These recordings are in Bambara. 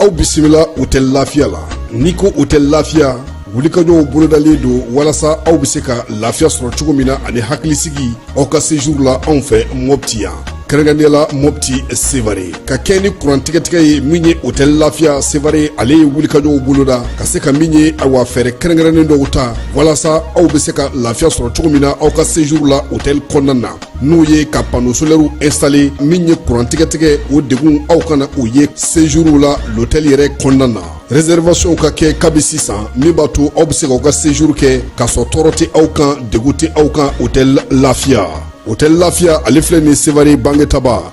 aw bisimila hotɛli lafiya la n'i ko hotɛli lafiya wulikajɔw bolodalen don walasa aw bɛ se ka lafiya sɔrɔ cogo min na ani hakilisigi aw ka sejuru la anw fɛ mɔpti yan kɛrɛnkɛrɛnnenya la mɔpti sevare ka kɛɲɛ ni kurantigɛtigɛ ye min ye hotɛli lafiya sevare ale ye wulikajɔw boloda ka se ka min ye awa fɛɛrɛ kɛrɛnkɛrɛnnen dɔw ta walasa aw bɛ se ka lafiya sɔrɔ cogo min na aw ka sejuru la hotɛli kɔnɔna na n'o ye ka pano solɛriw instale min ye kurantigɛtigɛ o degun aw kana o ye sejuru la lotɛli yɛrɛ kɔnɔna na reservation ka kɛ kabi sisan min b'a to aw bɛ se k'aw ka sejuru kɛ k'a sɔrɔ tɔɔrɔ tɛ aw kan degun tɛ aw kan hotɛli lafiya hotɛli lafiya ale filɛ nin sevare bangetaba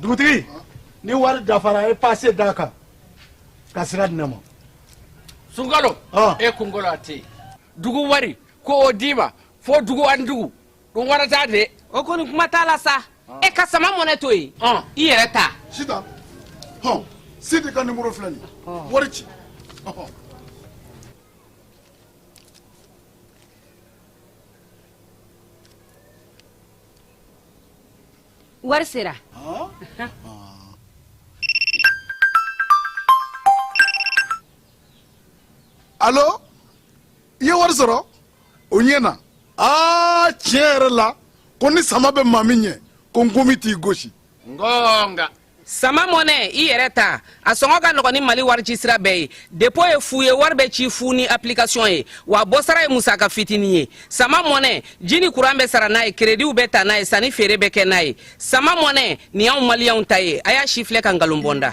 dugutigi ni wari dafara a ye pase d'a kan ka sira di ne ma sungalo Ah. e kunkolo a tɛ yen dugu wari ko o d'i ma fo dugu ani dugu dun wɛrɛ t'a de o kɔni kuma t'a la sa e ka sama mɔnɛ to yen Ah. i yɛrɛ ta sitan hɔn sidi ka nimoro filɛ nin ye wari ci Ɔhɔn. wari sera alo i ye wari sɔrɔ o ɲɛna aa tiɲɛ yɛrɛ la ko ni sama bɛ maa min ɲɛ ko nkomi t'i gosi ngonga sama mɔnɛ i yɛrɛ ta a sɔngɔ ka nɔgɔn ni mali warici sira bɛɛ ye depo ye fu ye wari bɛ ci fu ni application ye wa bɔsara ye musaka fitini ye sama mɔnɛ ji ni kuran bɛ sara n'a ye kerediw bɛ ta n'a ye sanni feere bɛ kɛ n'a ye sama mɔnɛ nin y'anw maliyɛnw ta ye a y'a sifilɛ ka nkalon bɔ n da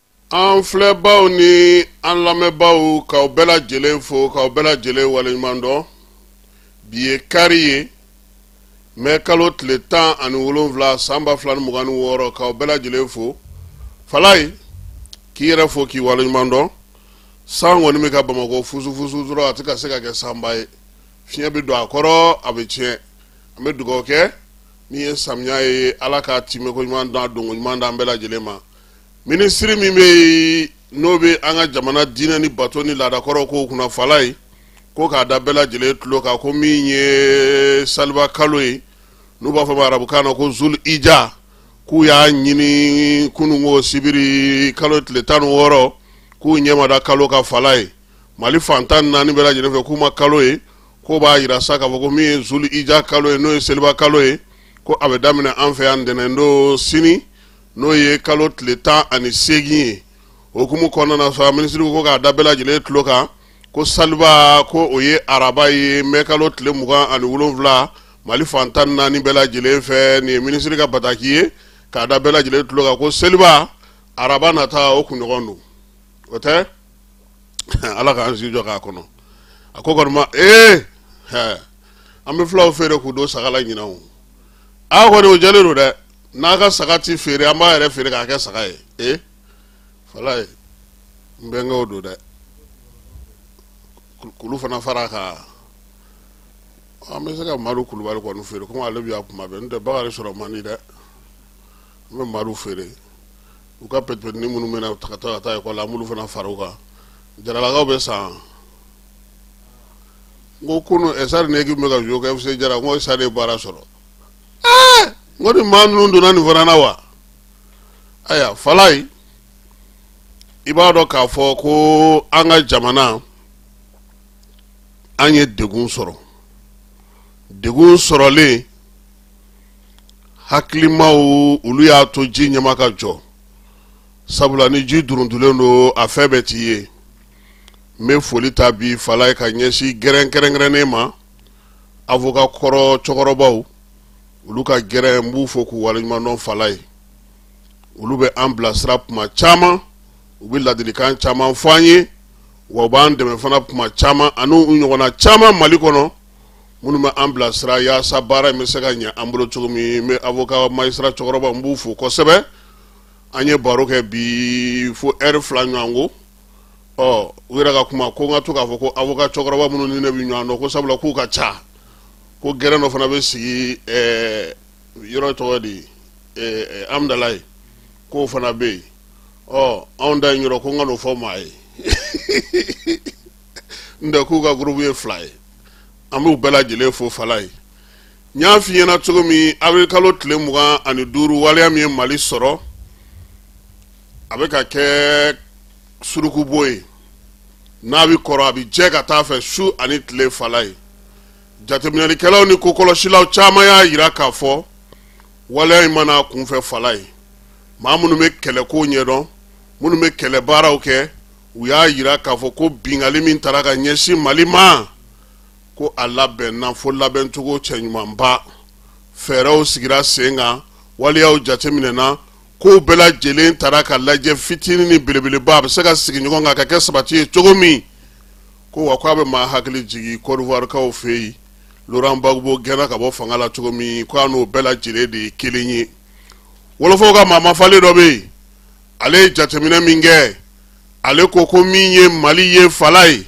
an filɛbaw ni an lamɛnbaw k'aw bɛɛ lajɛlen fo k'aw bɛɛ lajɛlen waleɲuman dɔn bi ye kari ye mɛ kalo tile tan ani wolonwula san ba fila ni mugan ni wɔɔrɔ k'aw bɛɛ lajɛlen fo falaye k'i yɛrɛ fo k'i waleɲuman dɔn san kɔni bɛ ka bamakɔ fusufusu dɔrɔn a tɛ ka se ka kɛ sanba ye fiɲɛ bɛ don a kɔrɔ a bɛ tiɲɛ an bɛ dugawu kɛ min ye samiya ye ala ka tɛmɛko ɲuman da donko ɲuman d'an bɛɛ lajɛlen ma minisiri min bɛ yen n'o bɛ an ka jamana diinɛ ni bato ni laadakɔrɔ ko kunna falaye ko k'a da bɛɛ lajɛlen tulo kan ko min ye saliba kalo ye n'u b'a fɔ ma arabukan na ko zul ija k'u y'a ɲini kununko sibiri kalo tile tan ni wɔɔrɔ k'u ɲɛ ma da kalo kan falaye mali fan tan ni naani bɛɛ lajɛlen fɛ k'u ma kalo ye k'o b'a jira sa k'a fɔ ko min ye zul ija kalo ye n'o ye seliba kalo ye ko a bɛ daminɛ an fɛ yan ntɛnɛn don sini n'o ye kalo tile tan ani seegin ye okumu kɔnɔna na sa minisiri ko k'a da bɛɛ lajɛlen tulo kan ko saliba ko o ye araba ye mɛ kalo tile mugan ani wolonwula mali fan tan naani bɛɛ lajɛlen fɛ nin ye minisiri ka bataki ye k'a da bɛɛ lajɛlen tulo kan ko seliba araba nata o kunɲɔgɔn don o tɛ ala k'an si jɔ k'a kɔnɔ a ko kɔni ma ee an bɛ fulaw feere k'u don saga la ɲinan a kɔni o jɛlen don dɛ n'a ka saga tɛ feere an b'a yɛrɛ feere k'a kɛ saga ye ee falaye n bɛnkɛw don dɛ k'olu fana fara kan an bɛ se ka madu kulubali kɔni feere komi ale bɛ yan kuma bɛɛ n'o tɛ bakari sɔrɔ man di dɛ an bɛ madu feere u ka pɛtipɛtini minnu bɛ na u ka taa ka taa ekɔli la an b'olu fana fara u kan jaralakaw bɛ san n ko kunu ɛsari ne k'i bɛ ka jouer kɛ fc jara n ko ɛsari ye baara sɔrɔ ko ni maa ninnu donna nin fana na wa ayiwa falaye i b'a dɔn k'a fɔ ko an ka jamana an ye degun sɔrɔ degun sɔrɔlen hakilimaw olu y'a to ji ɲɛma ka jɔ sabula ni ji duruntulen don a fɛn bɛɛ tɛ ye n bɛ foli ta bi falaye ka ɲɛsin gɛrɛn kɛrɛnkɛrɛnnen ma avocat kɔrɔ cɛkɔrɔbaw olu ka gɛrɛn n b'u fo k'u waleɲumandɔn falaye olu bɛ an bilasira kuma caman u bɛ ladilikan caman fɔ an ye wa u b'an dɛmɛ fana kuma caman ani u ɲɔgɔnna caman mali kɔnɔ minnu bɛ an bilasira yaasa baara in bɛ se ka ɲɛ an bolo cogo min n bɛ avocat magistrat cɛkɔrɔbaw n b'u fo kosɛbɛ an ye baro kɛ bi fo ɛri fila ɲɔgɔn ko ɔ u yɛrɛ ka kuma ko n ka to k'a fɔ ko avocat cɛkɔrɔba minnu ni ne bɛ ɲɔgɔn dɔn ko sabula k'u ka ca ko gɛrɛn dɔ fana bɛ sigi ɛɛ yɔrɔ tɔgɔ di ɛɛ amudalaye k'o fana bɛ yen ɔ anw da in yɔrɔ ko n kan'o fɔ maa ye n tɛ k'u ka gurupu ye fila ye an b'u bɛɛ lajɛlen fo falaye n y'a f'i ɲɛna cogo min avril kalo tile mugan ani duuru waleya min ye mali sɔrɔ a bɛ ka kɛ surukubo ye n'a bɛ kɔrɔ a bɛ jɛ ka taa a fɛ su ani tile falaye jateminɛlikɛlaw ni kokɔlɔsilaw caman y'a jira k'a fɔ waleya in ma na kunfɛ falaye maa minnu bɛ kɛlɛko ɲɛdɔn minnu bɛ kɛlɛ baaraw kɛ u y'a jira k'a fɔ ko binkanni min taara ka ɲɛsin mali ma ko a labɛnna fo labɛncogo cɛɲumanba fɛɛrɛw sigira sen kan waleyaw jateminɛna ko bɛɛ lajɛlen taara ka lajɛ fitinin ni belebeleba a bɛ se ka sigi ɲɔgɔn kan ka kɛ sabati ye cogo min ko wa ko a bɛ maa hakili jigin kɔdiwarikaw fɛ yen loran gbagbo gɛnna ka bɔ fanga la cogo min ko a n'o bɛɛ lajɛlen de ye kelen ye wolofɔw ka maa mafalen dɔ bɛ yen ale ye jateminɛ min kɛ ale ko ko min ye mali ye falayi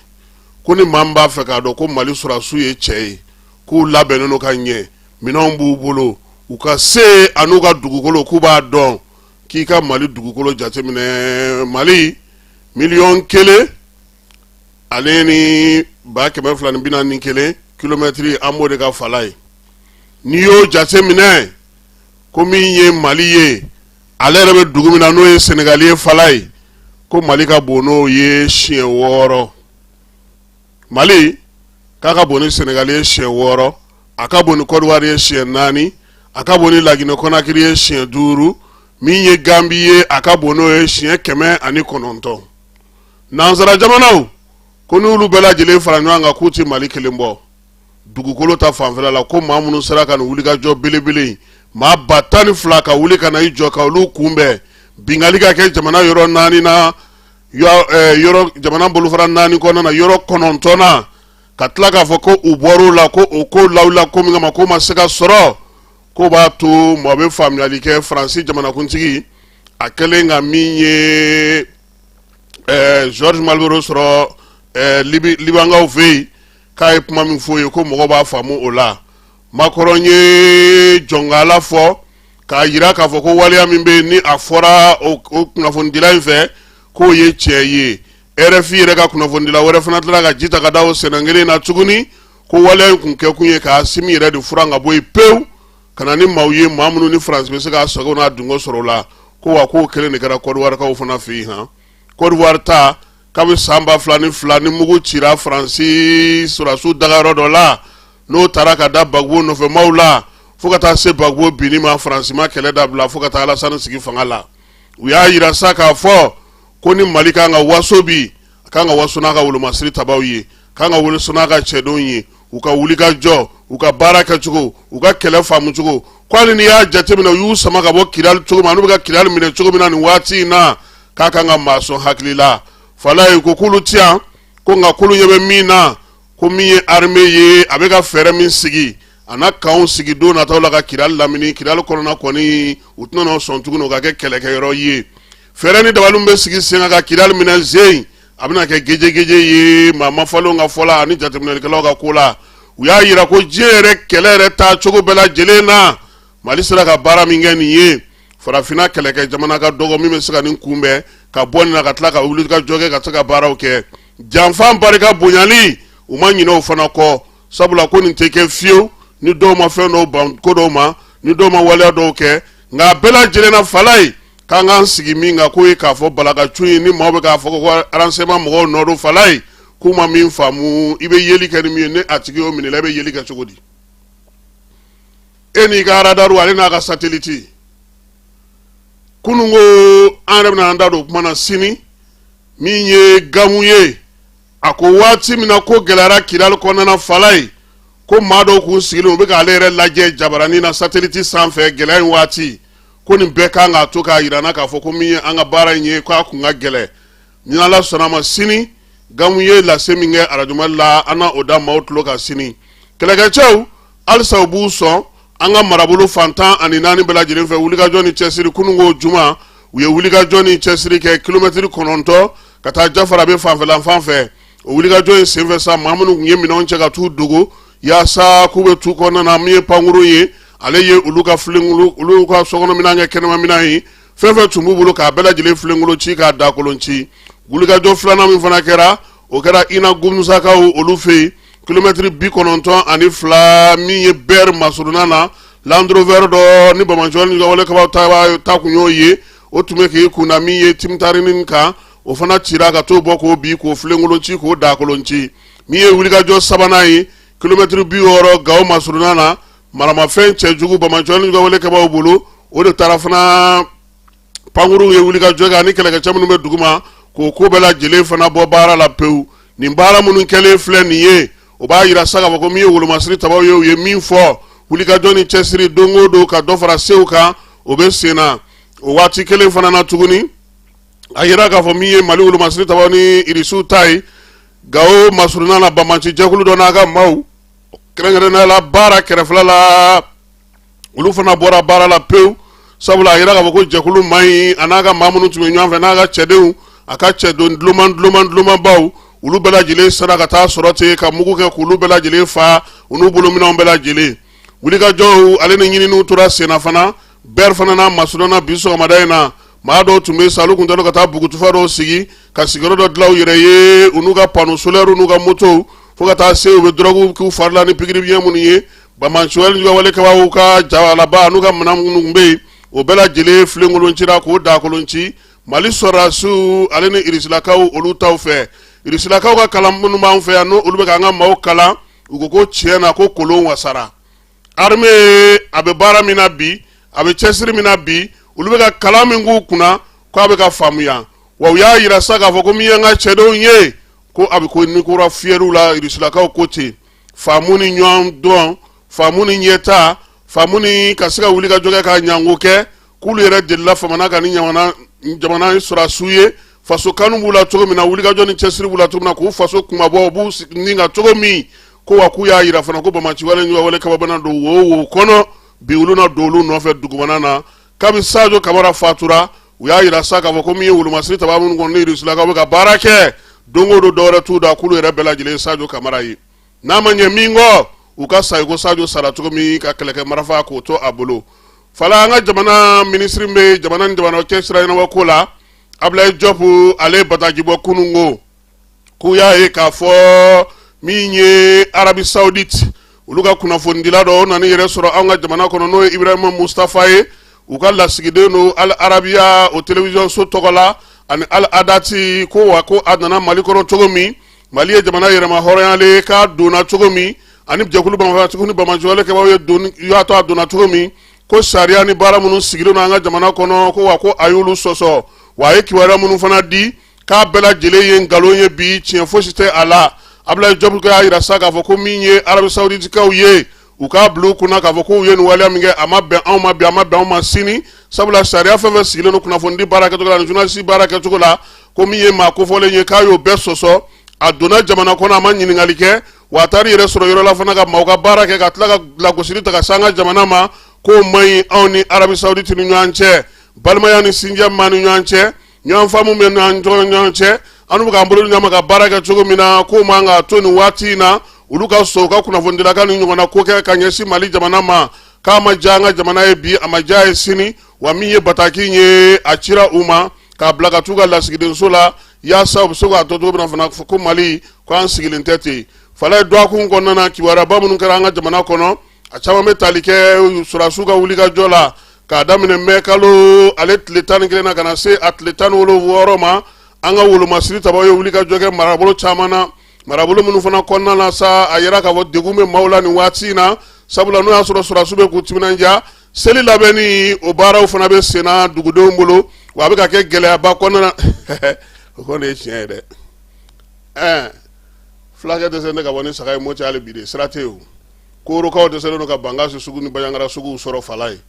ko ni maa min b'a fɛ k'a dɔn ko mali sɔrɔdasiw ye cɛ ye k'u labɛnnen don ka ɲɛ minɛnw b'u bolo u ka se ani u ka dugukolo k'u b'a dɔn k'i ka mali dugukolo jateminɛ mali miliyɔn kelen ale ni ba kɛmɛ fila ni bi naani ni kelen kilomɛtiri an b'o de kan falayi n'i y'o jateminɛ ko min ye mali ye ale yɛrɛ bɛ dugu min na n'o ye sɛnɛgali ye falayi ko mali ka bon n'o ye siɲɛ wɔɔrɔ mali k'a ka bon ni sɛnɛgali ye siɲɛ wɔɔrɔ a ka bon ni kɔdiwari ye siɲɛ naani a ka bon ni laginɛ kɔnakiri ye siɲɛ duuru min ye ganbi ye a ka bon n'o ye siɲɛ kɛmɛ ani kɔnɔntɔn nansara jamanaw ko n'olu bɛɛ lajɛlen fara ɲɔgɔn kan k'u tɛ mali kelen bɔ dugukolo ta fanfɛla la ko maa minnu sera ka nin wulikajɔ belebele in maa ba tan ni fila ka wuli ka na i jɔ ka olu kunbɛn binkanni ka kɛ jamana yɔrɔ naani na eh, yɔrɔ jamana bolofara naani kɔnɔna na yɔrɔ kɔnɔntɔn na ka tila k'a fɔ ko u bɔr'o la ko o ko lawulila ko min kama k'o ma se ka sɔrɔ k'o b'a to mɔgɔ bɛ faamuyali kɛ faransi jamanakuntigi a kɛlen ka min ye eh, georges malbrunot sɔrɔ eh, libankaw fɛ yen k'a ye kuma min f'o ye ko mɔgɔ b'a faamu o la makɔrɔn ye jɔnkala fɔ k'a jira k'a fɔ ko waleya min bɛ yen ni a fɔra o kunnafonidila in fɛ k'o ye tiɲɛ ye rfi yɛrɛ ka kunnafonidila wɛrɛ fana tila ka ji ta ka da o sɛnɛ kelen na tuguni ko waleya in kun kɛkun ye k'asimi yɛrɛ de furan ka bɔ yen pewu ka na ni maaw ye maa minnu ni faransi bɛ se k'a sago n'a dungo sɔrɔ o la ko wa k'o kelen de kɛra kɔdiwarikaw fana fɛ yen han kɔdiwari ta kabini san ba fila ni fila ni mugu cira faransi sɔrɔdasiw dagayɔrɔ dɔ la n'o taara ka da gbagbo nɔfɛmaw la fo ka taa se gbagbo binni ma faransi ma kɛlɛ dabila fo ka taa alasani sigi fanga la u y'a jira sa k'a fɔ ko ni mali kan ka waso bi a kan ka waso n'a ka wolomasiri tabaw ye kan ka waso n'a ka cɛdenw ye u ka wulikajɔ u ka baara kɛcogo u ka kɛlɛ faamucogo ko hali n'i y'a jateminɛ u y'u sama ka bɔ kidali cogo min na n'u bɛ ka kidali minɛ cogo min na nin waati in na k'a kan ka maa sɔn hakili la falayi ko k'olu ti yan ko nka k'olu ɲɛ bɛ min na ko min ye arime ye a bɛ ka fɛɛrɛ min sigi a na kanw sigi don nataw la ka kidali lamini kidali kɔnɔna kɔni u tɛna n'o sɔn tuguni o ka kɛ kɛlɛkɛyɔrɔ ye fɛɛrɛ ni dabaliw bɛ sigi sen kan ka kidali minɛ zen a bɛna kɛ gejegeje ye maa mafalenw ka fɔ la ani jateminɛlikɛlaw ka ko la u y'a jira ko diɲɛ yɛrɛ kɛlɛ yɛrɛ taa cogo bɛɛ lajɛlen na mali sera ka baara min kɛ nin ye farafinna kɛlɛkɛ jamana ka dɔgɔ min bɛ se ka nin kunbɛn ka bɔ nin na ka tila ka wulikajɔ kɛ ka se ka baaraw kɛ janfan barika bonyali u ma ɲinɛ o fana kɔ sabula ko nin tɛ kɛ fiyewu ni dɔw ma fɛn dɔw ban ko dɔw ma ni dɔw ma waleya dɔw kɛ nka a bɛɛ lajɛlen na falayi k'an k'an sigi min kan k'o ye k'a fɔ balakacun ye ni maaw bɛ k'a fɔ ko aransɛɲɛman mɔgɔw nɔ don falayi k'u ma min faamu i bɛ yeli kɛ ni min ye ni a tigi y'o minɛ i la i bɛ yeli kɛ cogo di e n'i ka aradaru ale n'a ka sateliti kunun ko an yɛrɛ bɛna an da don o kuma na sini min ye gamu ye a ko waati min na ko gɛlɛyara kidali kɔnɔna falayi ko maa dɔw kun sigilen u bɛ k'ale yɛrɛ lajɛ jabaranin na sateliti sanfɛ gɛlɛya in waati ko nin bɛɛ kan k'a to k'a yirana k'a fɔ ko min ye an ka baara in ye k'a kun ka gɛlɛn ni ala sɔnna a ma sini gamu ye lase min kɛ arajo mali la an na o da maaw tulo kan sini kɛlɛkɛcɛw halisa u b'u sɔn an ka marabolo fan tan ani naani bɛɛ lajɛlen fɛ wulikajɔ ni cɛsiri kununko juma u ye wulikajɔ ni cɛsiri kɛ kilomɛtiri kɔnɔntɔn ka taa jafarabɛ fanfɛla fan fɛ o wulikajɔ in senfɛ sa maa minnu tun ye minɛnw cɛ ka t'u dogo yaasa k'u bɛ tu kɔnɔna na min ye pankuru ye ale ye olu ka filenkolon olu ka sokɔnɔminɛn kɛ kɛnɛmaminɛn ye fɛn fɛn tun b'u bolo k'a bɛɛ lajɛlen filenkolon ci k'a dakolon ci wulikajɔ filanan min fana kɛra o kɛra ina gumusakaw olu fɛ yen kilomɛtiri bi kɔnɔntɔn ani fila min ye bɛri masurunna na landurovɛri dɔ ni banbaatɔnin juguwale kɛbaw ta kun y'o ye o tun bɛ k'i kunna min ye timitarini kan o fana cira ka t'o bɔ k'o bi k'o filenkolon ci k'o dakolon ci min ye wulikajɔ sabanan ye kilomɛtiri bi wɔɔrɔ gawo masurunna na maramafɛn cɛjugu banbaatɔnin juguwale kɛbaw bolo o de taara fana pankuruw ye wulikajɔ kɛ ani kɛlɛkɛcɛ minnu bɛ duguma k'o ko bɛɛ lajɛlen fana bɔ baara la pewu nin baara minnu kɛlen filɛ nin ye o b'a yira sa k'a fɔ ko min ye wolomasiri tabaw ye u ye min fɔ wulikajɔ ni cɛsiri don o don ka dɔ fara sew kan o bɛ sen na o waati kelen fana na tuguni a yira k'a fɔ min ye mali wolomasiri tabaw ni irisiw ta ye gawo masurunna na banbaanci jɛkulu dɔ n'a ka maaw kɛrɛnkɛrɛnnenya la bara kɛrɛfɛla la olu fana bɔra baara la pewu sabula a jira k'a fɔ ko jɛkulu man ɲi a n'a ka maa minnu tun bɛ ɲɔgɔn fɛ n'a ka cɛdenw a ka cɛdon dulomanbaw olu bɛɛ lajɛlen sera ka taa sɔrɔ ten ka mugu kɛ k'olu bɛɛ lajɛlen fa u n'u bolominɛnw bɛɛ lajɛlen wulikajɔw ale ni ɲininiw tora senna fana bɛri fana n'a masurunna bi sɔgɔmada in na maa dɔw tun bɛ sa olu kun tɛ ka taa bugutufa dɔw sigi ka sigiyɔrɔ dɔ dilan u yɛrɛ ye u n'u ka pano solɛriw n'u ka motow fo ka taa se u bɛ dɔrɔguw k'u fari la ni pikiri biɲɛ minnu ye banbaanci wale kɛbaaw ka jalaba n'u ka minɛn minnu bɛ yen o bɛɛ lajɛlen filenkolon cira k'o dakolon ci mali sɔrɔdasiw ale ni irisilakaw olu taw fɛ irisilakaw ka kalan minnu b'an fɛ yan n' olu bɛ ka an ka maaw kalan u ko ko tiɲɛ na ko k'olu wasara armée a bɛ baara min na bi a bɛ cɛsiri min na bi olu bɛ ka kalan min k'u kunna k' a bɛ ka faamuya wa u y'a yira sa k'a fɔ ko min ye an ka cɛdenw ye ko a bɛ ka ni kura fiyɛ olu la irisilakaw ko ten faamu ni ɲɔgɔn dɔn faamu ni ɲɛta faamu ni ka se ka wulikajɔ kɛ ka ɲango kɛ k'olu yɛrɛ delila famana ka ni jamana sɔrɔdasiw ye faso kanu b'u la cogo min na wulikajɔ ni cɛsiri b'u la cogo min na k'u faso kunmabɔ u b'u ni ka cogo min ko wa k'u y'a yira fana ko banbaanci wale ɲɔgɔn wale kɛbaa mana don wo wo kɔnɔ bi olu na don olu nɔfɛ dugumana na kabini sajo kamara fatura u y'a yira sa k'a fɔ ko min ye wolomasiri tabaa minnu kɔni ni irisilakaw bɛ ka baara kɛ don o don dɔwɛrɛ t'u da k'olu yɛrɛ bɛɛ lajɛlen sajo kamara ye n'a ma ɲɛ min kɔ u ka sa i ko sajo sara cogo min ka kɛlɛkɛ marafa k'o to a bolo fala an ka jamana minisiri min bɛ jamana ni jamana cɛ sira ɲɛnabɔ ko la abulayi jɔpu ale b'a daji bɔ kunun ko k'u y'a ye k'a fɔ min ye arabi saudite olu ka kunnafonidila dɔ o nana i yɛrɛ sɔrɔ an ka jamana kɔnɔ n'o ye ibrahima mustafa ye u ka lasigiden don al arabiya o television so tɔgɔ la ani al hadath ko wa ko a nana mali kɔnɔ cogo min mali ye jamana yɛrɛmahɔrɔnyalen k'a donna cogo min ani jɛkulu marafatigiw ni banbaanci wale kɛbaaw ye doni y'a to a donna cogo min ko sariya ni baara minnu sigilen don an ka jamana kɔnɔ ko wa ko a y'olu sɔsɔ wa a ye kibaruya minnu fana di k'a bɛɛ lajɛlen ye nkalon ye bi tiɲɛ fosi tɛ a la abulayi jɔpu y'a yira sa k'a fɔ ko min ye arabi sawuditikaw ye u k'a bila u kunna k'a fɔ k'u ye nin waleya min kɛ a ma bɛn anw ma bi a ma bɛn anw ma sini sabula sariya fɛn fɛn sigilen don kunnafonidi baara kɛcogo la ani journaliste baara kɛcogo la ko min ye maa kofɔlen ye k'a y'o bɛɛ sɔsɔ a donna jamana kɔnɔ a ma ɲininkali kɛ wa a taara i yɛrɛ sɔrɔ yɔrɔ la fana ka maaw ka baara kɛ ka tila ka lagosili ta ka se an ka jamana ma k'o man ɲi anw ni arabi sawuditi ni ɲɔgɔn cɛ balimaya ni sinjiya b'an ni ɲɔgɔn cɛ ɲɔgɔn faamu b'an ni ɲɔgɔn cɛ an bɛ k'an bolo ɲɔgɔn ma ka baara kɛ cogo min na k'o man ka to nin waati in na olu ka sɔn u ka kunnafonidila ka nin ɲɔgɔnna ko kɛ ka ɲɛsin mali jamana ma k'a ma diya an ka jamana ye bi a ma diya ye sini wa min ye bataki ye a cira u ma k'a bila ka t'u ka lasigidenso la yaasa u bɛ se k'a dɔn cogo min na fana ko mali ko an sigilen tɛ ten fala ye dɔgɔkun kɔnɔna na kibaruyaba minnu kɛra an ka jamana kɔnɔ a caman bɛ tali kɛ sɔrɔdasiw ka wulikajɔ la k'a daminɛ mɛ kalo ale tile tan ni kelen na ka na se a tile tan ni wɔɔrɔ ma an ka wolomasiri tabaaw ye wulikajɔ kɛ marabolo caman na marabolo minnu fana kɔnɔna na sa a yira k'a fɔ degun bɛ maaw la nin waati in na sabula n'o y'a sɔrɔ sɔrɔdasiw bɛ k'u timinandiya seli labɛnni o baaraw fana bɛ senna dugudenw bolo wa a bɛ ka kɛ gɛlɛyaba kɔnɔna na o kɔni ye tiɲɛ ye dɛ ɛɛ fulakɛ dɛsɛnen ka bɔ ni saga ye moti hali bi de sira tɛ yen o korokaw dɛsɛlen don ka bankasi sugu ni baɲangara suguw sɔrɔ fala ye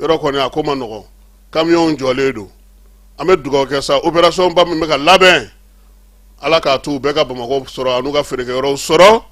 yɔrɔ kɔni a ko man nɔgɔn kamiyɔnw jɔlen don an bɛ dugawu kɛ sa operasɔnba min bɛ ka labɛn ala k'a to u bɛɛ ka bamakɔ sɔrɔ an'u ka feerekɛyɔrɔw sɔrɔ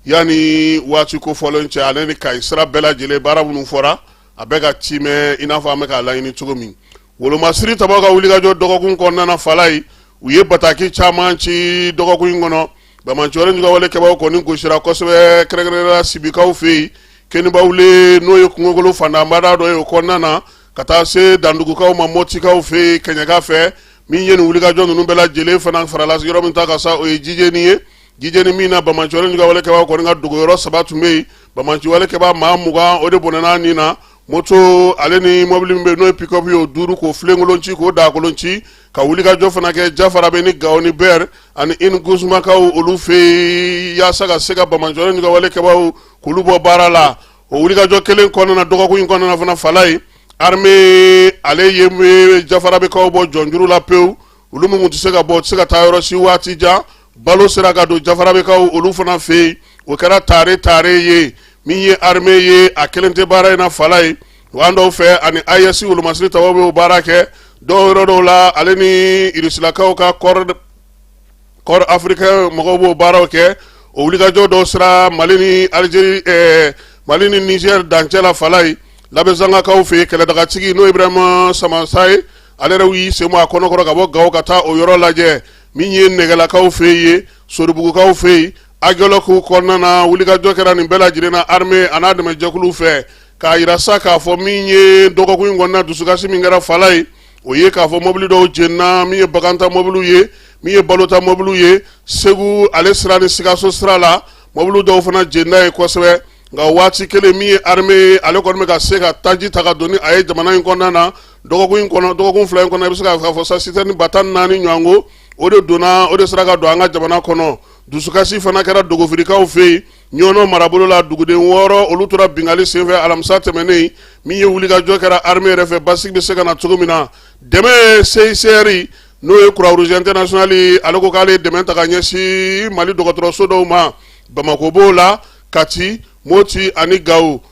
yanni waati kofɔlen cɛ ale ni kayi sira bɛɛ lajɛlen baara minnu fɔra a bɛɛ ka timɛ i n'a fɔ an bɛ k'a laɲini cogo min Wolomasiri tabaw ka wulikajɔ dɔgɔkun kɔnɔna fala ye u ye bataki caman ci dɔgɔkun in kɔnɔ banbaanciwale kɛbagaw kɔni gosira kosɛbɛ kɛrɛnkɛrɛnnenya la sibikaw fɛ yen kɛɲɛbawule n'o ye kungokolo fantanbada dɔ ye o kɔnɔna na ka taa se dandugukaw ma mɔtikaw fɛ yen kɛɲɛka fɛ min ye nin wulikajɔ ninnu bɛɛ lajɛlen fana farala yɔrɔ min ta kan sa o ye jijeni ye jijeni min na banbaanciwalekɛbaa kɔni ka dogoyɔrɔ saba tun bɛ yen banbaanciwalekɛbaa maa mugan o de bɔnɛna nin na moto ale ni mɔbili min bɛ n'o ye pickup ye o duuru k'o filenkolon ci k'o daakolon ci ka wulikajɔ fana kɛ jafarabe ni gawo ni bɛr ani ingusumakaw olu fɛ yen yaasa ka se ka banbaanci ni ka wale kɛbaaw k'olu bɔ baara la o wulikajɔ kelen kɔnɔna dɔgɔkun in kɔnɔna fana fala ye arme ale ye jafarabekaw bɔ jɔnjuru la pewu olu min tun tɛ se ka bɔ tɛ se ka taa yɔrɔ si waati jan balo sera ka don jafarabekaw olu fana fɛ yen o kɛra tare tare ye min ye arme ye a kelen tɛ baara in na fala ye an dɔw fɛ ani ayesi wolomasiri tabaw bɛ o baara kɛ dɔw yɔrɔ dɔw la ale ni irisilakaw ka corps africain mɔgɔw b'o baaraw kɛ o wulikajɔ dɔw sera mali ni alizeri ɛɛ mali ni nizɛri dancɛ la fala ye labɛzangakaw fɛ kɛlɛdagatigi n'o ye ibrahima samasa ye ale yɛrɛ y'i sen bɔ a kɔnɔkɔrɔ ka bɔ gawo ka taa o yɔrɔ lajɛ min ye nɛgɛlakaw fɛ yen soribugukaw fɛ yen agɛlɔku kɔnɔna na wulikajɔ kɛra nin bɛɛ lajɛlen na arme an'a dɛmɛjɛkulu fɛ k'a yira sa k'a fɔ min ye dɔgɔkun in kɔnɔna dusukasi min kɛra fala ye o ye k'a fɔ mɔbili dɔw jenina min ye baganta mɔbiliw ye min ye balota mɔbiliw ye segu ale sira ni sikaso sira la mɔbili dɔw fana jenina yen kosɛbɛ nka waati kelen min ye arme ale kɔni bɛ ka se ka taji ta ka don ni a ye jamana in kɔnɔna na dɔgɔkun fila in kɔnɔ i bɛ se k'a fɔ sa sitɛrɛni ba tan naani ɲɔgɔn ko o de donna o de sera ka don an ka jamana kɔnɔ dusukasi fana kɛra dogofirikaw fɛ yen ɲɔnɔ marabolo la duguden wɔɔrɔ olu tora binkanni senfɛ alamisa tɛmɛnen min ye wulikajɔ kɛra arme yɛrɛ fɛ basigi bɛ se ka na cogo min na dɛmɛ CICR n'o ye croix rouge international ale ko k'ale dɛmɛ ta ka ɲɛsin mali dɔgɔtɔrɔso dɔw ma bamako b'o la kati moti ani gawo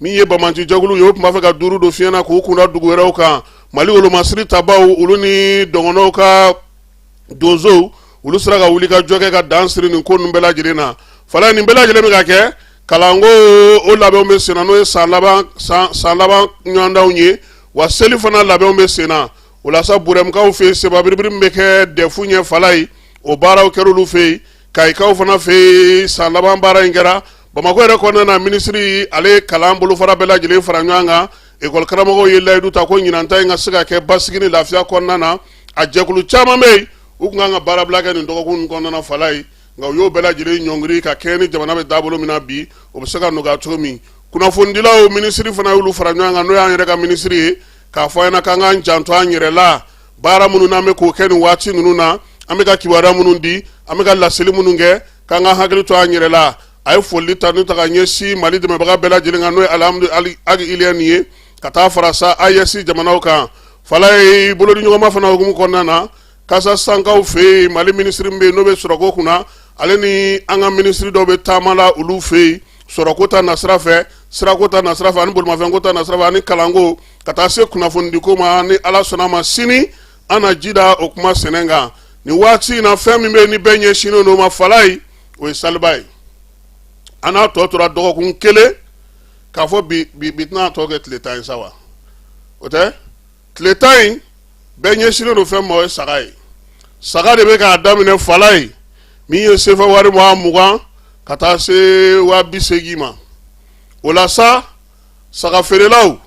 min ye banbaancijɛkuluw ye u tun b'a fɛ ka duuru don fiɲɛ na k'u kun da dugu wɛrɛw kan mali wolomasiri tabaw olu ni dɔgɔnɔw ka donsow olu sera ka wulikajɔ kɛ ka dan siri nin ko ninnu bɛɛ lajɛlen na fala ye nin bɛɛ lajɛlen bɛ ka kɛ kalanko o labɛnw bɛ senna n'o ye san laban ɲɔgɔndanw ye wa seli fana labɛnw bɛ senna o la sa burɛmkaw fɛ yen sebabiribiri min bɛ kɛ dɛfu ɲɛ fala ye o baaraw kɛra olu fɛ yen kayikaw fana fɛ yen san laban baara in kɛra bamakɔ yɛrɛ kɔnɔna na minisiri ale ye kalan bolofara bɛɛ lajɛlen fara ɲɔgɔn kan ekɔlikaramɔgɔw ye layidu ta ko ɲinanta in ka se ka kɛ basigi ni lafiya kɔnɔna na a jɛkulu caman bɛ yen u tun kan ka baarabila kɛ nin dɔgɔkun kɔnɔna na fala ye nka u y'o bɛɛ lajɛlen ɲɔngiri ka kɛɲɛ ni jamana bɛ taabolo min na bi o bɛ se ka nɔgɔya cogo min kunnafonidilaw minisiri fana y'olu fara ɲɔgɔn kan n'o y'an yɛrɛ ka minisiri ye k'a fɔ an ɲɛna k'an k'an janto an yɛrɛ la baara minnu n'an bɛ k'o kɛ nin waati ninnu na an bɛ ka kibaruya minnu di an bɛ ka laseli minnu kɛ k'an ka hakili to an yɛrɛ la a ye foli tanu ta ka ɲɛsin mali dɛmɛbaga bɛɛ lajɛlen kan n'o ye alihamdu agi iliyɛni ye ka taa fara sa AES jamanaw kan fala ye bolodiɲɔgɔnma fana hukumu kɔnɔna na kasa sankaw fɛ yen mali minisiri min bɛ yen n'o bɛ sɔrɔko kunna ale ni an ka minisiri dɔw bɛ taama la olu fɛ yen sɔrɔko ta nasira fɛ sirako ta nasira fɛ ani bolimafɛnko ta nasira fɛ ani kalanko ka taa se kunnafonidiko ma ni ala sɔnna ma sini an na ji da o kuma sɛnɛ kan nin waati in na fɛn min bɛ ni bɛɛ ɲɛsinnen don o ma fala ye o ye saliba ye an n'a tɔ tora dɔgɔkun kelen k'a fɔ bi tɛna tɔ kɛ tile tan ye sa wa o tɛ tile tan in bɛɛ ɲɛsinnen don fɛn ma o ye saga ye saga de bɛ k'a daminɛ fala ye min ye sefa wari waa mugan ka taa se waa bi seegin ma o la sa saga feerelaw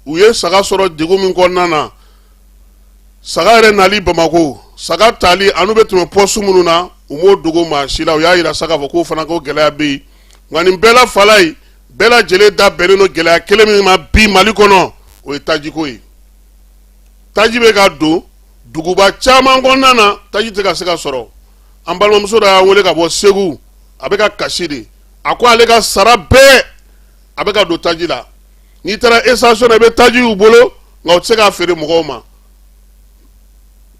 u ye saga sɔrɔ degun min kɔnɔna na saga yɛrɛ nali bamako saga tali an'u bɛ tɛmɛ pɔsu minnu na u m'o dogo maa si la u y'a yira sa k'a fɔ k'o fana ko gɛlɛya bɛ yen nka nin bɛɛ la fala ye bɛɛ lajɛlen da bɛnnen don gɛlɛya kelen min ma bi mali kɔnɔ o ye tajiko ye taji bɛ ka don duguba caman kɔnɔna na taji tɛ ka se ka sɔrɔ an balimamuso dɔ y'an wele ka bɔ segu a bɛ ka kasi de a ko ale ka sara bɛɛ a bɛ ka don taji la n'i taara station na i bɛ taji y'u bolo nka u tɛ se k'a feere mɔgɔw ma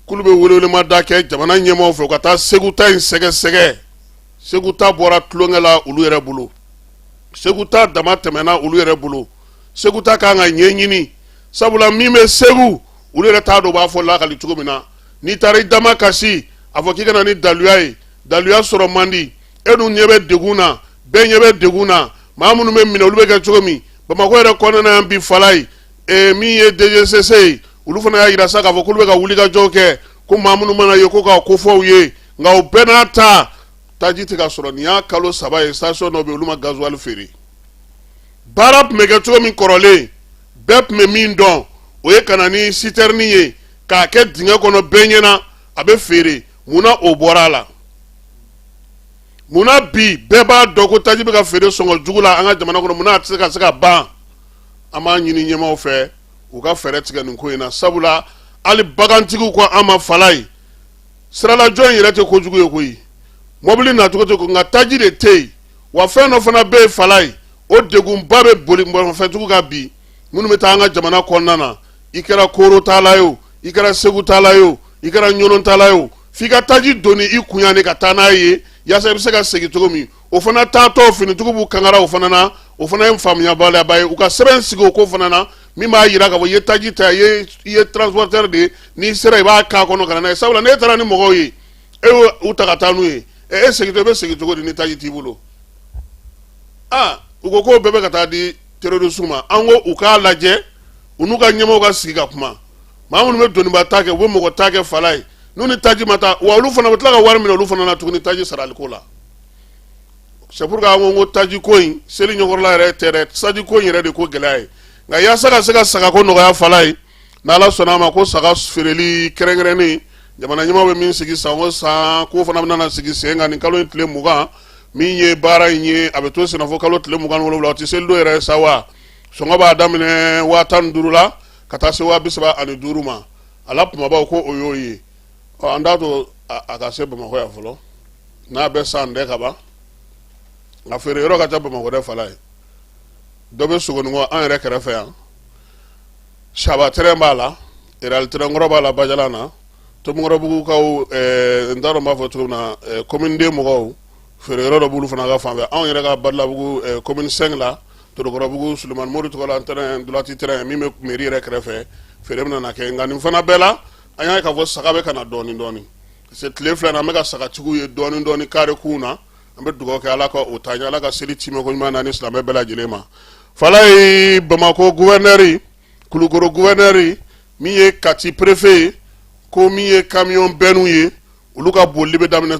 k'olu bɛ welewelema da kɛ jamana ɲɛmaaw fɛ u ka taa segu ta in sɛgɛsɛgɛ segu ta bɔra tulonkɛ la olu yɛrɛ bolo segu ta damatɛmɛna olu yɛrɛ bolo segu ta kan ka ɲɛɲini sabula min bɛ segu olu yɛrɛ t'a dɔn u b'a fɔ lakali cogo min na n'i taara i da makasi a fɔ k'i ka na ni daluya ye daluya sɔrɔ man di e dun ɲɛ bɛ degun na bɛɛ ɲɛ bɛ degun na maa minnu bɛ minɛ olu bɛ kɛ cogo min bamakɔ yɛrɛ kɔnɔna yan bi fala ye ee min ye DGCC ye olu fana y'a yira sa k'a fɔ k'olu bɛ ka wulikajɔ kɛ ko maa minnu mana ye ko k'a kofɔ u ye nka o bɛɛ n'a ta taji tɛ ka sɔrɔ nin y'a kalo saba ye station dɔ bɛ olu ma gazuwali feere baara tun bɛ kɛ cogo min kɔrɔlen bɛɛ tun bɛ min dɔn o ye ka na ni sitɛrini ye k'a kɛ dingɛ kɔnɔ bɛɛ ɲɛna a bɛ feere mun na o bɔra a la. munna bi bɛɛ b'a dɔn ko taji bɛ ka feere sɔngɔ jugu la an ka jamana kɔnɔ munna a tɛ se ka se ka ban an b'a ɲini ɲɛmaaw fɛ u ka fɛɛrɛ tigɛ nin ko in na sabula hali bagantigiw ko an ma falaye siralajɔ in yɛrɛ tɛ kojugu ye koyi mɔbili nacogo tɛ ko nka taji de tɛ yen wa fɛn dɔ fana bɛ yen falaye o degunba bɛ bolimafɛntigiw kan bi minnu bɛ taa an ka jamana kɔnɔna na i kɛra koro taala ye o i kɛra segu taala ye o i kɛra ɲɔnɔn taala ye o f'i ka taji doni i kun yan de ka taa n'a ye yaasa i bɛ se ka segin cogo min o fana taatɔ finitigiw b'u kangara o fana na o fana ye faamuyabaliyaba ye u ka sɛbɛn sigi o ko fana na min b'a yira k'a fɔ i ye taji ta i ye transporteur de ye n'i sera i b'a k'a kɔnɔ ka na n'a ye sabula n'e taara ni mɔgɔw ye e y'u ta ka taa n'u ye e segintɔ i bɛ segin cogo di ni taji t'i bolo aa u ko k'o bɛɛ bɛ ka taa di terroriste ma an ko u k'a lajɛ u n'u ka ɲɛmaaw ka sigi ka kuma maa minnu bɛ doniba ta kɛ u bɛ mɔgɔ ta kɛ falaye n'u ni taji ma taa wa olu fana bɛ tila ka wari minɛ olu fana na tuguni taji saraliko la c'est pour que an ko n ko taji ko in seli ɲɔgɔnla yɛrɛ tɛ dɛ taji ko in yɛrɛ de ko gɛlɛya ye nka yaasa ka se ka sagako nɔgɔya falaye n'ala sɔnna a ma ko saga feereli kɛrɛnkɛrɛnnen jamana ɲɛmaa bɛ min sigi san o san k'o fana bɛna sigi sen kan nin kalo in tile mugan min ye baara in ye a bɛ to senna fo kalo tile mugan ni wolonwula o tɛ seli don yɛrɛ sa wa sɔngɔ b'a daminɛ waa tan ni duuru la ka taa se waa bi saba ani duuru ma a la kumabaw ko o y'o ye ɔ an t'a to a a ka se bamakɔ yan fɔlɔ n'a bɛ san dɛ ka ban nka feere yɔrɔ ka ca bamakɔ dɛ falaye dɔ bɛ sogonikɔ an yɛrɛ kɛrɛfɛ yan saba tɛrɛn b'a la real tɛrɛn kɔrɔ b'a la bajalan na tomikɔrɔbugukaw ɛɛ n t'a dɔn n b'a fɔ cogo min na ɛɛ komini deux mɔgɔw feere yɔrɔ dɔ b'olu fana ka fan fɛ anw yɛrɛ ka badalabugu ɛɛ komini cinq la Torokɔrɔbugu Sulemani Mori tɔgɔ la tɛrɛn droite tɛrɛn min bɛ mairie yɛrɛ kɛrɛfɛ feere bɛna na kɛ nka nin fana bɛɛ la an y'a ye k'a fɔ saga bɛ ka na dɔɔnin dɔɔnin parce que tile fila in na an bɛ ka sagatigiw ye dɔɔnin dɔɔnin kare kunw na an bɛ dugawu kɛ Ala ka o taa ɲɛ Ala ka seli tiimɛko ɲuman d'an ni silamɛ bɛɛ lajɛlen ma Falaye Bamakɔ gouverneur Kulukoro gouverneur min ye Kati préfet ye ko min ye camion bennew ye olu ka bolili bɛ daminɛ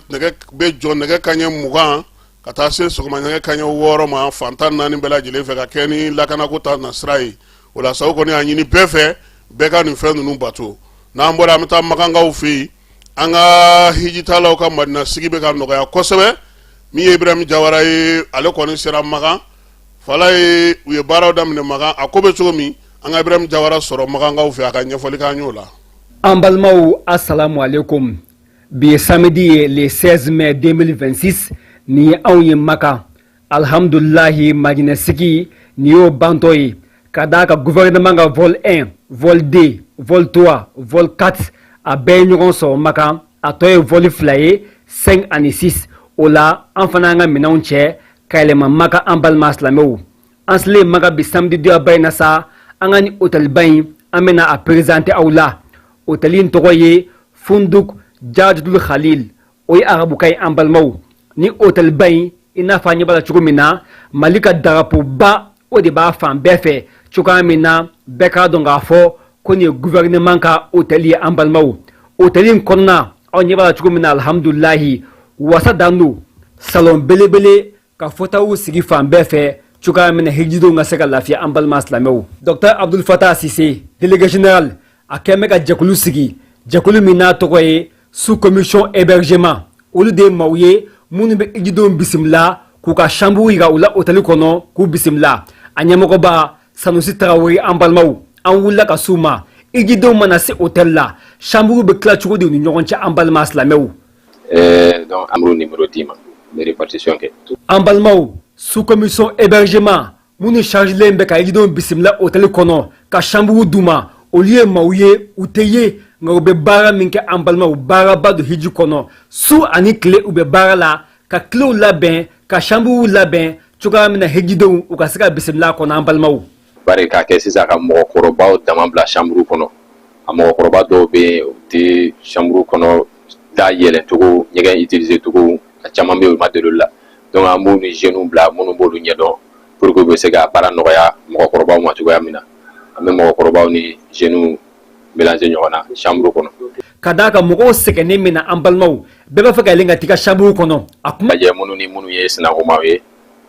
bɛ jɔ nɛgɛ kanɲɛ mugan ka taa se sɔgɔma nɛgɛ kaɲɛ wɔɔrɔ ma fan tan ni naani bɛɛ lajɛlen fɛ ka kɛ ni lakanako ta nasira ye o la sago kɔni y'a ɲini bɛɛ fɛ bɛɛ ka nin fɛn ninnu bato n'an bɔra an bɛ taa makankaw fɛ yen an ka hijitalaw ka madina sigi bɛ ka nɔgɔya kosɛbɛ min ye ibrahim jawara ye ale kɔni sera makan falaye u ye baaraw daminɛ makan a ko bɛ cogo min an ka ibrahim jawara sɔrɔ makankaw fɛ a ka ɲɛfɔli k'an y'o la an balimaw asalamu aleykum Bi ye samedi ye le 16 mai 2026 nin ye anw ye Makan. Alhamdulilahi Madina sigi nin y'o bantɔ ye ka d'a kan gouvernement ka vol 1, vol 2, vol 3, vol 4 a bɛɛ ye ɲɔgɔn sɔrɔ Makan, a tɔ ye vol fila ye 5 ani 6. O la an fana y'an ka minɛnw cɛ ka yɛlɛma Makan an balima silamɛw. An selen Makan bi samedi doyaba in na sa, an ka nin hôtel ba in an bɛna a présenter aw la. Hôtel in tɔgɔ ye funduk jadul khalil o ye arabukan ye an balimaw nin hôtel ba in i n'a fɔ an ɲɛ b'a la cogo min na mali ka darapoba o de b'a fan bɛɛ fɛ cogoya min na bɛɛ k'a dɔn k'a fɔ ko nin ye gouvernement ka hôtel ye an balimaw hôtel in kɔnɔna aw ɲɛ b'a la cogo min na alhamdulilahi wasa dan don salon belebele ka fauteuilw sigi fan bɛɛ fɛ cogoya min na hijidenw ka se ka lafiya an balima silamɛw dɔkta abdul fatah sise délégué général a kɛn bɛ ka jɛkulu sigi jɛkulu min n'a tɔgɔ ye sous commission hébergement olu de ye maaw ye minnu bɛ hijidenw bisimila k'u ka chambre yira u la otɛli kɔnɔ k'u bisimila a ɲɛmɔgɔba sanusi tarawele an balimaw an wulila ka s'u ma hijidenw mana se otɛli la chambre bɛ tila cogo di u ni ɲɔgɔn cɛ an balima silamɛw Ɛɛ donc amadu numéro d'i ma répartition kɛ an balimaw sous commission hébergement minnu chargelen bɛ ka hijidenw bisimila hôtel kɔnɔ ka chambre d'u ma olu ye maaw ye u tɛ ye nka u bɛ baara min kɛ an balimaw baaraba don hiji kɔnɔ su ani tile u bɛ baara la ka kilew labɛn ka chambrew labɛn cogoya min na hijidenw u ka se ka bisimila a kɔnɔ an balimaw bari k'a kɛ sisan ka mɔgɔkɔrɔbaw dama bila chambre kɔnɔ a mɔgɔkɔrɔba dɔw bɛ yen u tɛ chambre kɔnɔ da yɛlɛ cogo ɲɛgɛn utiliser cogo a caman bɛ yen u ma deli o la donc an b'u ni jeunes bila minnu b'olu ɲɛdɔn pour que u bɛ se ka baara nɔgɔya mɔgɔkɔrɔbaw ma cogoya min na an bɛ mɔgɔkɔrɔbaw ni jeunes mélanger ɲɔgɔn na chambre kɔnɔ ka d'a kan mɔgɔw sɛgɛnnen min na an balimaw bɛɛ b'a fɛ ka yɛlɛn ka t'i ka chambre kɔnɔ a kuma lajɛ minnu ni minnu ye sinankunmaw ye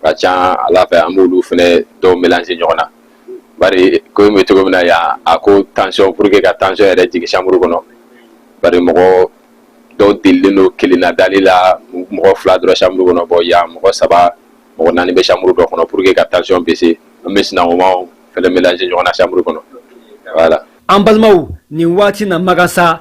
ka ca ala fɛ an b'olu fana dɔw melanze ɲɔgɔn na bari ko bɛ cogo min na yan a ko tansɔn pour que ka tansɔn yɛrɛ jigin chambre kɔnɔ bari mɔgɔ dɔw delilen don kelenna dali la mɔgɔ fila dɔrɔn chambre kɔnɔ bon yan mɔgɔ saba mɔgɔ naani bɛ chambre dɔ kɔnɔ pour que ka tansɔn baisser an bɛ sinankunmaw fana melanze ɲɔgɔn na chambre kɔnɔ voilà an balimaw nin waati in na Makan sa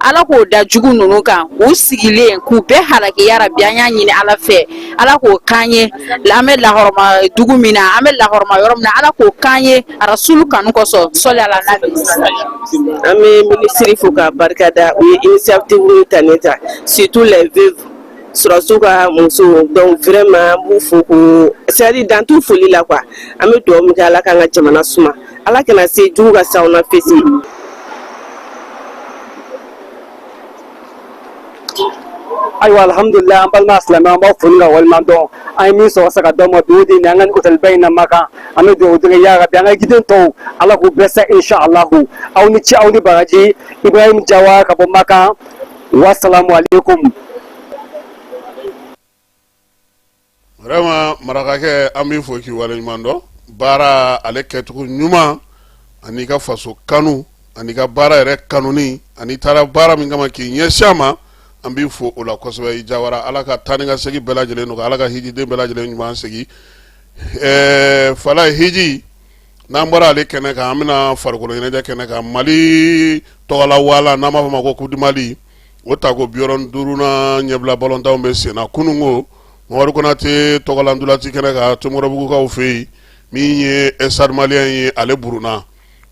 ala k'o da jugu ninnu kan u sigilen k'u bɛɛ halaki ya rabbi an y'a ɲini ala fɛ ala k'o k'an ye an bɛ lahɔrɔma dugu min na an bɛ lahɔrɔma yɔrɔ min na ala k'o k'an ye arasulu kanu kɔsɔn sɔli ala an bɛ minisiri fo ka barika da u ye initiative ta ne ta surtout les veuves sɔrɔdasiw ka muso donc vraiment an b'u fo ko c'est-à-dire dan t'u foli la quoi an bɛ dugawu min kɛ ala k'an ka jamana suma Ala kana se jugu ka s'aw na fesi ayiwa alhamdulilahi an balima silamɛ an b'aw fo ni k'aw waleɲuman dɔn an ye min sɔrɔ sa ka d'aw ma bi o de ni an ka nin hôtel ba in na makan an bɛ dugawu deli ya rabi an ka hijiden tɔw ala k'u bɛɛ se inshallahu aw ni ci aw ni baraji ibrahim jawara ka bɔ makan wasalamu alaykum vraiment marakakɛ an b'i fo k'i waleɲuman dɔn baara ale kɛcogo ɲuman an'i ka faso kanu an'i ka baara yɛrɛ kanuni an'i taara baara min kama k'i ɲɛsin ma an b'i fo o la kosɛbɛ i jawara ala ka taa ni ka segin bɛɛ lajɛlen nɔgɔya ala ka hijiden bɛɛ lajɛlen ɲuman segin ɛɛ fala hiji n'an bɔra ale kɛnɛ kan an bɛna farikolo ɲɛnajɛ kɛnɛ kan mali tɔgɔla wala n'an b'a fɔ ma ko coupe du mali o tako bi wɔɔrɔ ni duurunan ɲɛbila balɔntanw bɛ senna kunun ko mamadu konate tɔgɔla ntolaci kɛnɛ kan tomikɔrɔbugukaw fɛ yen min ye stade malien ye ale burunna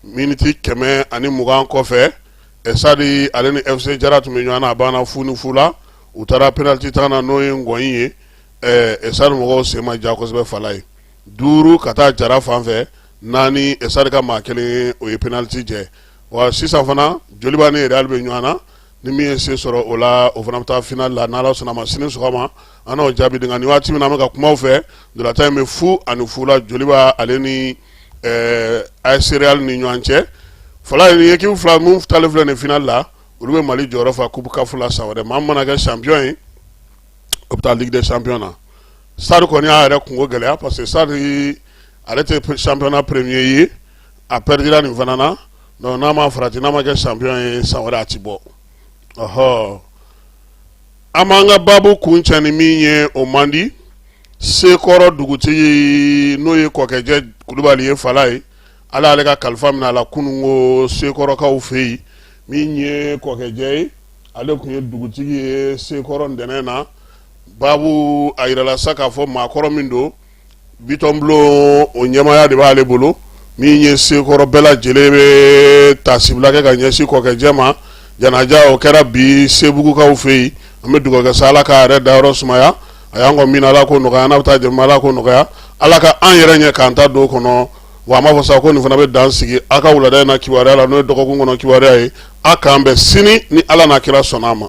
miniti kɛmɛ ani mugan kɔfɛ stade ale ni fc jara tun bɛ ɲɔgɔn na a banna fu ni fu la u taara pɛnaliti tan na n'o ye ŋɔni ye stade mɔgɔw sen ma ja kosɛbɛ fala ye duuru ka taa jara fan fɛ naani stade ka maa kelen o ye pɛnaliti jɛ wa sisan fana joliba ni real bɛ ɲɔgɔn na ni min ye se sɔrɔ o la o fana bɛ taa finale la n'ala sɔnna a ma sini sɔgɔma an n'o jaabi di nka nin waati min na an bɛ ka kuma aw fɛ ntolatan in bɛ fu ani fu la joliba ale ni as real ni ɲɔgɔn cɛ fala ye équipe fila minnu taalen filɛ nin finale la olu bɛ mali jɔyɔrɔ fa coupe caf la san wɛrɛ maa mana kɛ champion ye o bɛ taa ligue des champions na stade kɔni y'a yɛrɛ kunko gɛlɛya parce que stade ale tɛ championnat premier ye a perdira nin fana na donc n'a ma farati n'a ma kɛ champion ye san wɛrɛ a ti bɔ ɔhɔ an b'an ka baabu kuncɛ ni min ye o man di sekɔrɔ dugutigi n'o ye kɔkɛjɛ kulubali ye fala ye ala y'ale ka kalifa minɛ a la kunun ko sekɔrɔkaw fɛ yen min ye kɔkɛjɛ ye ale kun ye dugutigi ye sekɔrɔ ntɛnɛn na baabu a jirala sa k'a fɔ maakɔrɔ min don bitɔn bulon o ɲɛmaaya de b'ale bolo min ye sekɔrɔ bɛɛ lajɛlen bɛ tasibila kɛ ka ɲɛsin kɔkɛjɛ ma janaja o kɛra bi sebugukaw fɛ yen an bɛ dugawukɛ sa ala k'a yɛrɛ dayɔrɔ sumaya a y'an kɔn min ala k'o nɔgɔya an n'a bɛ taa jɛ min ala k'o nɔgɔya ala ka an yɛrɛ ɲɛ k'an ta don kɔnɔ wa an b'a fɔ sa ko nin fana bɛ dan sigi an ka wulada in na kibaruya la n'o ye dɔgɔkun kɔnɔ kibaruya ye a k'an bɛn sini ni ala n'a kira sɔnna a ma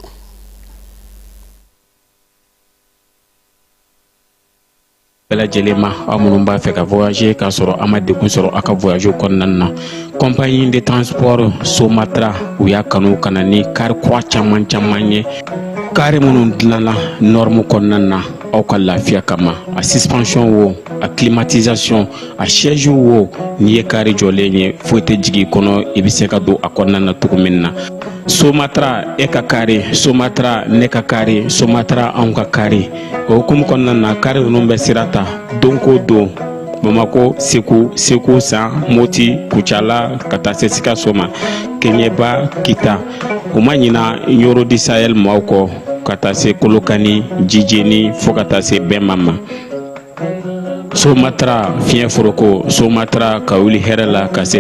bɛɛ lajɛlen ma aw minnu b'a fɛ ka voyager k'a sɔrɔ a ma degun sɔrɔ a ka voyage kɔnɔna na compagnie de transport somatra u y'a kanu ka na ni kari kura caman caman ye kari minnu dilanna norme kɔnɔna na aw ka lafiya kama a suspension wo a climatisation a sɛz wo n'i ye kari jɔlen ye foyi tɛ jigin kɔnɔ i bɛ se ka don a kɔnɔna na cogo min na somatra e ka kari somatra ne ka kari somatra anw ka kari o hukumu kɔnɔna na kari ninnu bɛ sira ta don ko don bamakɔ segu segu san moti kucala ka taa se sikaso ma keɲɛba kita u ma ɲina ɲɔrɔ di sayɛli maaw kɔ ka taa se kolokani jijeni fo ka taa se bɛma ma Somatra fiɲɛ foroko somatra ka wuli hɛrɛ la ka se